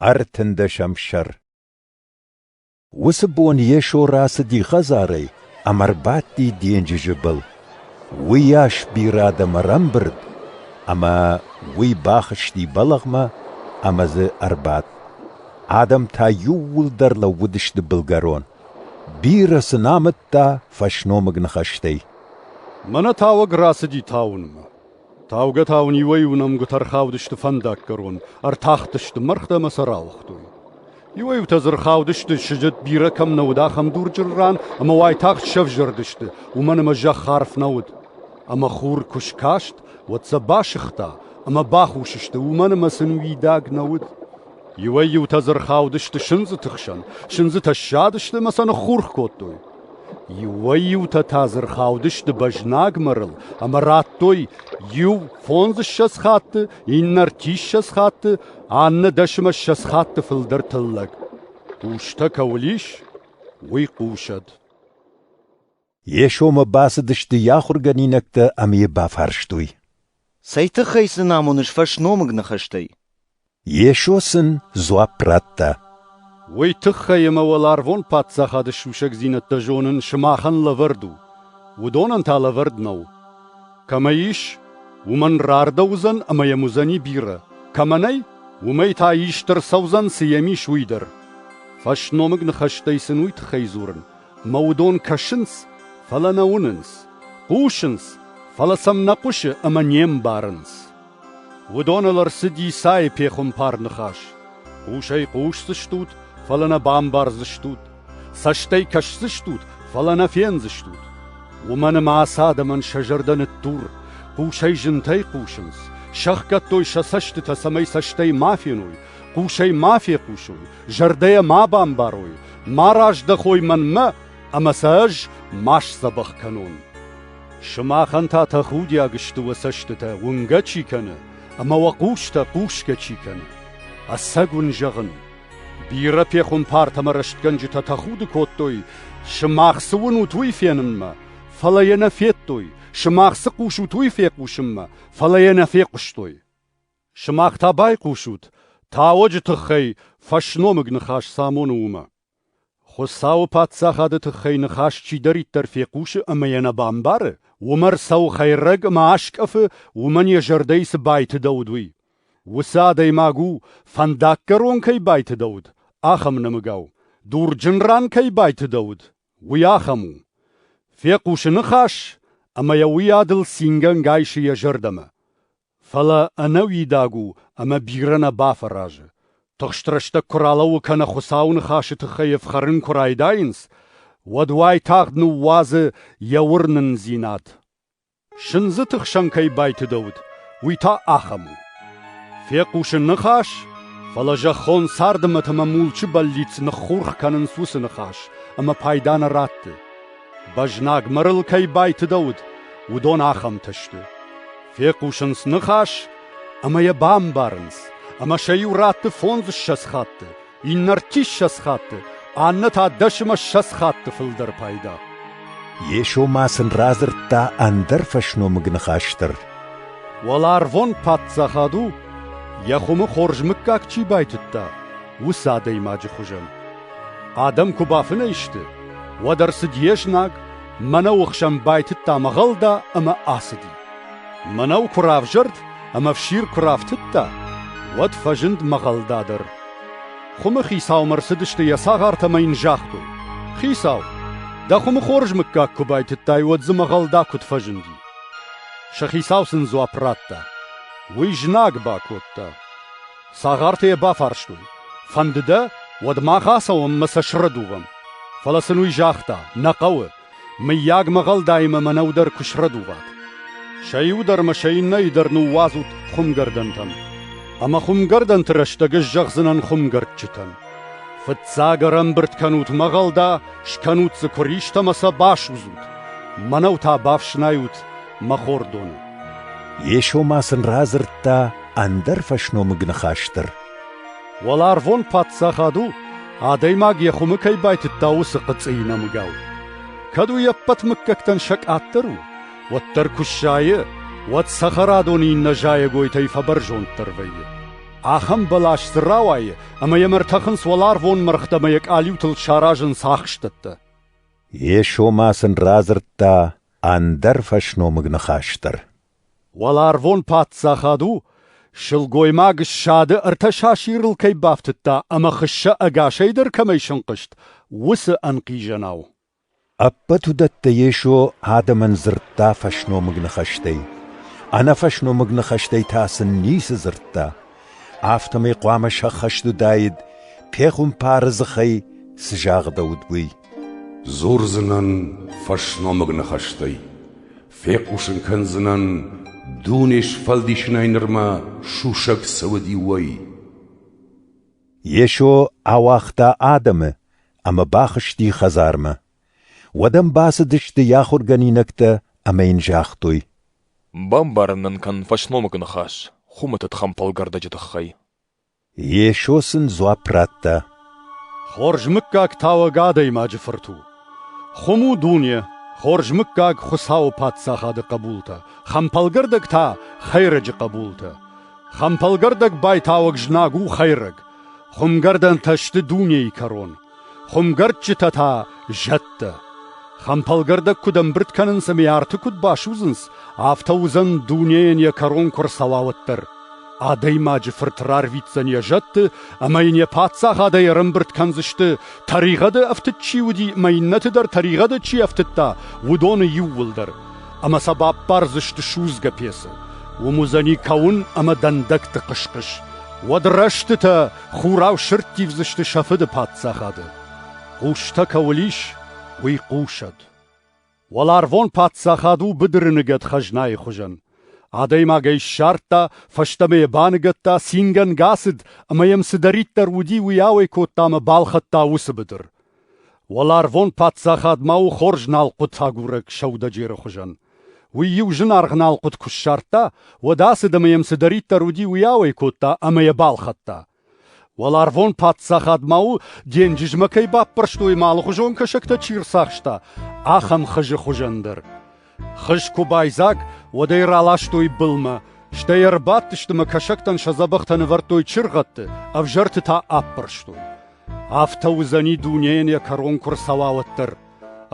Ӕртындӕсӕм сӕр Уыцы бон Йесо рацыди хӕдзарӕй ӕмӕ рбадти денджызы был. Уыйас бирӕ адӕм ӕрӕмбырд, ӕмӕ уый бахызти бӕлӕгъмӕ ӕмӕ дзы ӕрбадт. Адӕм та иууылдӕр лӕууыдысты былгӕрон. Бирӕ сын амыдта фӕсномыг ныхӕстӕй. — Мӕнӕ тауӕг рацыди тауынмӕ. Таугӕ та уын иуӕй-иу нӕмгуытӕ ӕрхаудысты фӕндаггӕрон, ӕртахтысты мӕргътӕ ӕмӕ сӕ рауагътой. Иуӕй-иутӕ дзы ӕрхаудысты, сыджыт бирӕ кӕм нӕ уыд, ахӕм дурджыры ран, ӕмӕ уайтагъд сӕвзӕрдысты, уымӕн ӕмӕ зӕхх арф нӕ уыд. Ӕмӕ хур куы скаст, уӕд сӕ басыгъта ӕмӕ бахус сты, уымӕн ӕмӕ сын уидаг нӕ уыд. Иуӕй-иутӕ дзы рхаудысты сындзыты хсӕн, сындзытӕ ссадысты ӕмӕ сӕ ныххурх кодтой. Иуӕй-иутӕ та дзы рхаудысты бӕзнагмӕ рыл ӕмӕ радтой иу фондзыссӕдз хатты, иннӕ ртиссӕдз хатты, аннӕ дӕсмӕссӕдз хатты фылдӕр тыллӕг. Хъустӕ кӕуыл ис, уый хъусӕд. Йесомӕ бацыдысты йӕ ахуыргӕнинӕгтӕ ӕмӕ йӕ бафарстой. Цӕй тыххӕй сын амоныс фӕсномыг ныхӕстӕй? Йесо сын дзуапп радта. Уый тыххӕй ӕмӕ уӕларвон Паддзахады сусӕгдзинӕдтӕ зонын сымахӕн лӕвӕрд у, уыдонӕн та лӕвӕрд нӕу. Кӕмӕ ис, уымӕн рардӕуыдзӕн ӕмӕ йӕм уыдзӕни бирӕ, кӕмӕ нӕй, уымӕй та ист ӕрцӕудзӕн, цы йӕм ис, уый дӕр. Фӕсномыг ныхӕстӕй сын уый тыххӕй дзурын, ӕмӕ уыдон кӕсынц, фӕлӕ нӕ уынынц, хъусынц, фӕлӕ сӕм нӕ хъуысы ӕмӕ не мбарынц. Уыдоныл ӕрцыд Исайы пехуымпар ныхас. Хъусӕй хъусдзыстут, фӕлӕ нӕ бамбардзыстут. Цӕстӕй кӕсдзыстут, фӕлӕ нӕ фендзыстут. Уымӕн ӕмӕ ацы адӕмӕн сӕ зӕрдӕ ныттур, хъусӕй зынтӕй хъусынц, сӕхгӕдтой сӕ цӕстытӕ, цӕмӕй цӕстӕй ма феной, хъусӕй ма фехъусой, зӕрдӕйӕ ма бамбарой, ма раздӕхой мӕнмӕ, ӕмӕ сӕ ӕз ма сдзӕбӕх кӕнон. Сымахӕн та тӕхудиаг сты уӕ цӕстытӕ уынгӕ чи кӕны ӕмӕ уӕ хъустӕ хъусгӕ чи кӕны. Ӕцӕг уын зӕгъын, бирӕ пехуымпартӕмӕ рӕстгӕнджытӕ тӕхуды кодтой, сымах цы уынут, уый фенынмӕ, фӕлӕ йӕ нӕ федтой, сымах цы хъусут, уый фехъусынмӕ, фӕлӕ йӕ нӕ фехъуыстой. Сымах та байхъусут, тауӕджы тыххӕй фӕсномыг ныхас цы амоны, уымӕ. Хуыцауы Паддзахады тыххӕй ныхас чидӕриддӕр фехъусы ӕмӕ йӕ нӕ бамбары, уымӕ ӕрцӕуы хӕйрӕг ӕмӕ аскъӕфы, уымӕн йӕ зӕрдӕйы цы байтыдӕуыд, уый. Уыцы адӕймаг у, фӕндаггӕрон кӕй байтыдӕуыд, ахӕм нӕмыгау, дурджын ран кӕй байтыдӕуыд, уый ахӕм у. Фехъусы ныхас, ӕмӕ йӕ уыйадыл цингӕнгӕ исы йӕ зӕрдӕмӕ. Фӕлӕ ӕнӕуидаг у ӕмӕ бирӕ нӕ бафӕразы. Тыхст рӕстӕг куы ралӕууы кӕнӕ Хуыцауы ныхасы тыххӕй ӕфхӕрын куы райдайынц, уӕд уайтагъд ныууадзы йӕ уырнындзинад. Сындзы тыхсӕн кӕй байтыдӕуыд, уый та ахӕм у: фехъусы ныхас, фӕлӕ зӕххон царды мӕт ӕмӕ мулчы бӕллиц ныххурх кӕнынц уыцы ныхас, ӕмӕ пайда нӕ ратты. Бӕзнаг мырыл кӕй байтыдӕуыд, уыдон ахӕмтӕ сты. Фехъусынц ныхас ӕмӕ йӕ бамбарынц, ӕмӕ сӕ иу ратты фондзыссӕдз хатты, иннӕ ртиссӕдз хатты, аннӕ та дӕсмӕ ссӕдз хатты фылдӕр пайда. Йесо ма сын радзырдта ӕндӕр фӕсномыг ныхас дӕр. Уӕларвон Паддзахад у, йӕ хуымы хорз мыггаг чи байтыдта, уыцы адӕймаджы хуызӕн. Адӕм куы бафынӕй сты, уӕд ӕрцыд йе знаг, мӕнӕуы хсӕн байтыдта мӕгъӕлда ӕмӕ ацыди. Мӕнӕу куы равзӕрд ӕмӕ фсир куы рафтыдта, уӕд фӕзынд мӕгъӕлда дӕр. Хуымы хицаумӕ рцыдысты йӕ цагъартӕ ӕмӕ йын загътой: «Хицау, дӕ хуымы хорз мыггаг куы байтыдтай, уӕд дзы мӕгъӕлда куыд фӕзынди?» Сӕ хицау сын дзуапп радта: «Уый знаг бакодта». Цагъартӕ йӕ бафарстой: «Фӕнды дӕ, уӕд мах ацӕуӕм ӕмӕ сӕ срӕдувӕм. фӕлӕ сын уый загъта: Нӕ хъӕуы, мыййаг, мӕгъӕлдаимӕ мӕнӕу дӕр куы срӕдуват. сӕ иу дӕр ӕмӕ сӕ иннӕйы дӕр ныууадзут хуымгӕрдӕнтӕм. ӕмӕ хуымгӕрдӕнты рӕстӕг ӕз зӕгъдзынӕн хуымгӕрдджытӕн: Фыццаг ӕрӕмбырд кӕнут мӕгъӕлда, скӕнут дзы куыристӕ ӕмӕ сӕ басудзут. мӕнӕу та бафснайут, мӕ хордон. Йесо ма сын радзырдта ӕндӕр фӕсномыг ныхас дӕр. Уӕларвон Паддзахад у, адӕймаг йӕ хуымы кӕй байтыдта, уыцы хъыцъыйы нӕмыгау. Кӕд уый ӕппӕт мыггӕгтӕн сӕ къаддӕр у, уӕддӕр куы сайы, уӕд цӕхӕрадоны иннӕ зайӕгойтӕй фӕбӕрзонддӕр вӕййы. Ахӕм бӕлас дзы рауайы, ӕмӕ йӕм ӕртӕхынц уӕларвон мӕргътӕ ӕмӕ йӕ къалиутыл саразынц ахстӕттӕ. Йесо ма сын радзырдта ӕндӕр фӕсномыг ныхас дӕр. Уӕларвон паддзахад у, сылгоймаг ссады ӕртӕ сасирыл кӕй бафтыдта ӕмӕ хыссӕ ӕгасӕй дӕр кӕмӕй сынхъызт, уыцы ӕнхъизӕнау. Ӕппӕт уыдӕттӕ Йесо адӕмӕн дзырдта фӕсномыг ныхӕстӕй. Ӕнӕфӕсномыг ныхӕстӕй та сын ницы дзырдта. Афтӕмӕй хъуамӕ сӕххӕст уыдаид, пехуымпары дзыхӕй цы загъдӕуыд, уый. Дзурдзынӕн фӕсномыг ныхӕстӕй, фехъусын кӕндзынӕн, дуне сфӕлдисынӕй нырмӕ сусӕг цы уыди, уый. Йесо ауагъта адӕмы ӕмӕ бахызти хӕдзармӕ. Уӕд ӕм бацыдысты йӕ ахуыргӕнинӕгтӕ ӕмӕ йын загътой: Бамбарын нын кӕн фӕсномыгы ныхас хуымӕтӕг хӕмпӕлгӕрдӕджы тыххӕй. Йесо сын дзуапп радта. Хорз мыггаг тауӕг адӕймаджы фырт у. Хуым у дуне, хорз мыггаг Хуыцауы Паддзахады хъӕбултӕ, хӕмпӕлгӕрдӕг та хӕйрӕджы хъӕбултӕ. Хӕмпӕлгӕрдӕг байтауӕг знаг у хӕйрӕг. Хуымгӕрдӕнтӕ сты дунейы кӕрон. Хуымгӕрдджытӕ та — зӕдтӕ. Хӕмпӕлгӕрдӕг куыд ӕмбырд кӕнынц ӕмӕ арты куыд басудзынц, афтӕ уыдзӕн дунейӕн йӕ кӕрон куы ӕрцӕуауӕд дӕр. Адӕймаджы фырт рарвитдзӕн йӕ зӕдты ӕмӕ йын йӕ паддзахадӕй ӕрӕмбырд кӕндзысты, тӕригъӕды ӕфтыд чи уыди ӕмӕ иннӕты дӕр тӕригъӕды чи ӕфтыдта, уыдоны иууылдӕр. Ӕмӕ сӕ баппардзысты судзгӕ пецы. Уым уыдзӕни кӕуын ӕмӕ дӕндӕгты хъыс-хъыс. Уӕд рӕстытӕ Хурау сырдтивдзысты сӕ фыды паддзахады. Хъустӕ кӕуыл ис, уый хъусӕд. Уӕларвон паддзахад у быдыры ныгӕд хӕзнайы хуызӕн. Адӕймаг ӕй ссардта, фӕстӕмӕ йӕ баныгӕдта, цингӕнгӕ ацыд ӕмӕ йӕм цыдӕриддӕр уыди, уый ауӕй кодта ӕмӕ балхӕдта уыцы быдыр. Уӕларвон паддзахад ма у хорз налхъуыт агурӕг сӕудӕджеры хуызӕн. Уый-иу зынаргъ налхъуыт куы ссардта, уӕд ацыд ӕмӕ йӕм цыдӕриддӕр уыди, уый ауӕй кодта ӕмӕ йӕ балхӕдта. Уӕларвон паддзахад ма у, денджызмӕ кӕй баппӕрстой ӕмӕ алыхуызон кӕсӕгтӕ чи рцахста, ахӕм хызы хуызӕн дӕр. Хыз куы байдзаг, уӕд ӕй раластой былмӕ, стӕй ӕрбадтысты мӕ кӕсӕгтӕн сӕ дзӕбӕхтӕ нывӕрдтой чыргъӕдты, ӕвзӕрты та аппӕрстой. Афтӕ уыдзӕни дунейӕн йӕ кӕрон куы рцӕуа, уӕддӕр.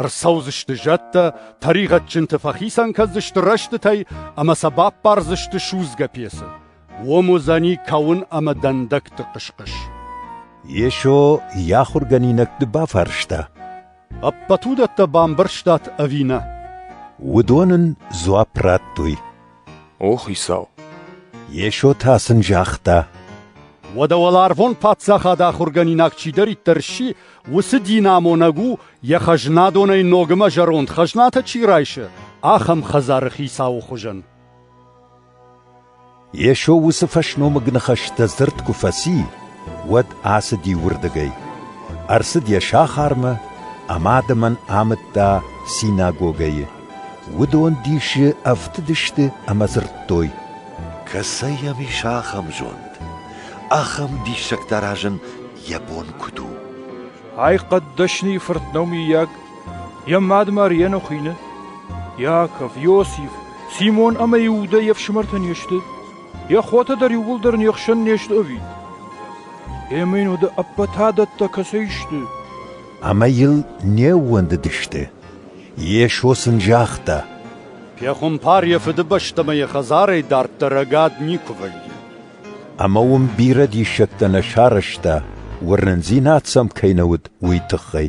Ӕрцӕудзысты зӕдтӕ, тӕригъӕдджынты фӕхицӕн кӕндзысты рӕстытӕй ӕмӕ сӕ баппардзысты судзгӕ пецы. Уым уыдзӕни кӕуын ӕмӕ дӕндӕгты хъысхъыс. Йесо йӕ ахуыргӕнинӕгты бафарста. Ӕппӕт уыдӕттӕ бамбӕрстат ӕви нӕ? Уыдон ын дзуапп радтой. О, Хицау! Йесо та сын загъта. Уӕдӕ уӕларвон паддзахад ахуыргӕнинаг чидӕриддӕр сси, уыцы динамонӕг у, йӕ хӕзнадонӕй ногмӕ зӕронд хӕзнатӕ чи райсы, ахӕм хӕдзары хицауы хуызӕн. Йесо уыцы фӕсномыг ныхӕстӕ дзырд куы фӕци, уӕд ацыди уырдыгӕй, ӕрцыд йӕ сахармӕ ӕмӕ адӕмӕн амыдта синагогӕйы. Уыдон дисы ӕфтыдысты ӕмӕ дзырдтой: «Кӕцӕй йӕм ис ахӕм зонд, ахӕм диссӕгтӕ аразын йӕ бон куыд у?» «Ай хъӕддӕсныйы фырт нӕу, миййаг?» Йӕ мадымар Енохины, Иаков, Иосиф, Симон ӕмӕ Иудӕ йе фсымӕртӕ не сты, йӕ хотӕ дӕр иууылдӕр не хсӕн не сты ӕви? Ӕмӕ йын уыды ӕппӕт адӕттӕ кӕцӕй сты? Ӕмӕ йыл не ууӕндыдысты. Йесо сын загъта: Пехуымпар йӕ фыдыбӕстӕмӕ йӕ хӕдзарӕй дарддӕр ӕгад никуы вӕййы. Ӕмӕ уым бирӕ диссӕгтӕ нӕ сарӕзта, уырнындзинад сӕм кӕй нӕ уыд, уый тыххӕй.